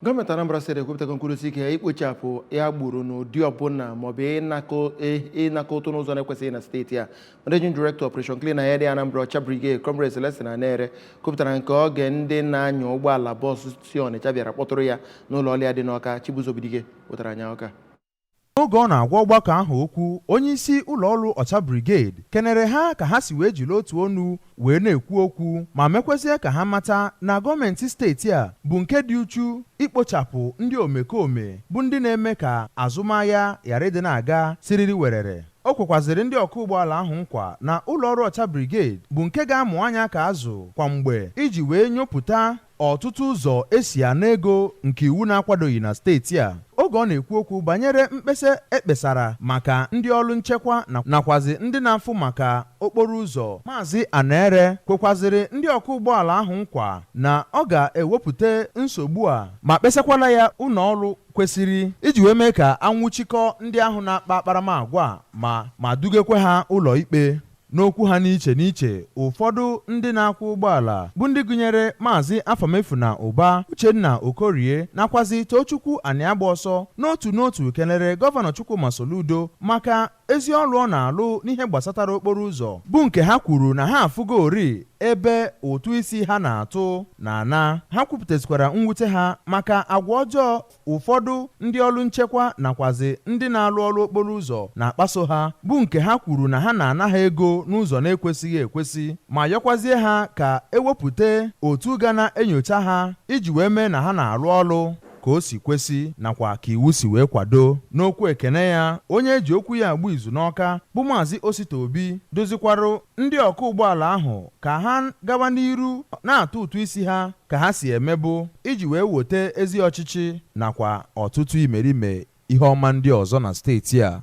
Gọọmenti Anambra Steeti ekwupụtago nkwudosi ike ya ikpochapụ agboro n'ụdị ọbụla maọbụ ịnakọ ụtụ n'ụzọ na-ekwesịghị na steeti a Managing Director Operation Clean and Healthy Anambra Ọcha Brigade Comrade Celestine Anere kwupụtara nke oge ndị na-anya ụgbọala bọọsụ si Ọnịcha bịara kpọtụrụ ya n'ụlọ ọrụ ya dị n'Ọka Chibuzo Obidike wetara anya Ọka Oge ọ na-agwa ọgbakọ ahụ okwu, onyeisi ụlọọrụ Ọcha Brigade kenere ha ka ha si wee jiri otu onu wee na-ekwu okwu ma mekwezie ka ha mata na gọọmenti steeti a bụ nke dị uchu ikpochapụ ndị omekome bụ ndị na-eme ka azụmahịa ghara ịdị na-aga siriri werere. O kwekwazịrị ndị ọkwụ ụgbọala ahụ nkwa na ụlọọrụ Ọcha Brigade bụ nke ga-amụ anya ka azụ kwa mgbe iji wee nyopụta ọtụtụ ụzọ e si ana ego nke iwu na-akwadoghị na steeti a. Oge ọ na-ekwu okwu banyere mkpesa e kpesara maka ndị ọlụ nchekwa nakwazị ndị na-afụ maka okporo ụzọ, Maazị Anere kwekwazịrị ndị ọkwụ ụgbọala ahụ nkwa na ọ ga-ewepụta nsogbu a ma kpesakwala ya ụlọọrụ kwesịrị iji wee mee ka a nwụchikọọ ndị ahụ na-akpa akparamagwa a ma ma dugekwa ha ụlọikpe. N'okwu ha n'iche n'iche, ụfọdụ ndị na-akwụ ụgbọala bụ ndị gụnyere Maazị Afamefuna Ụba, Uchenna Okorie nakwazi Tochukwu Aniagbaọsọ n'otu n'otu kelere Gọvanọ Chukwuma Soludo maka ezi ọlụ ọ na-alụ n'ihe gbasatara okporo ụzọ bụ nke ha kwuru na ha afụgoori ebe ụtụ isi ha na-atụ na-ana. Ha kwupụtazịkwara mwute ha maka agwa ọjọọ ụfọdụ ndị ọlụ nchekwa nakwazị ndị na-alụ ọlụ okporo ụzọ na-akpaso ha bụ nke ha kwuru na ha na-ana ha ego n'ụzọ na-ekwesịghị ekwesị ma yọkwazie ha ka e wepụta otu ga na-enyocha ha iji wee mee na ha na-alụ ọlụ ka o si kwesị nakwa ka iwu si wee kwado. N'okwu ekene ya, onye e ji okwu ya agba izu n'Ọka bụ Maazị Osita Obi dụzikwarụ ndị ọkwụ ụgbọala ahụ ka ha gawa n'iru na-atụ ụtụ isi ha ka ha si emebu iji wee wote ezi ọchịchị nakwa ọtụtụ imerime ihe ọma ndị ọzọ na steeti a.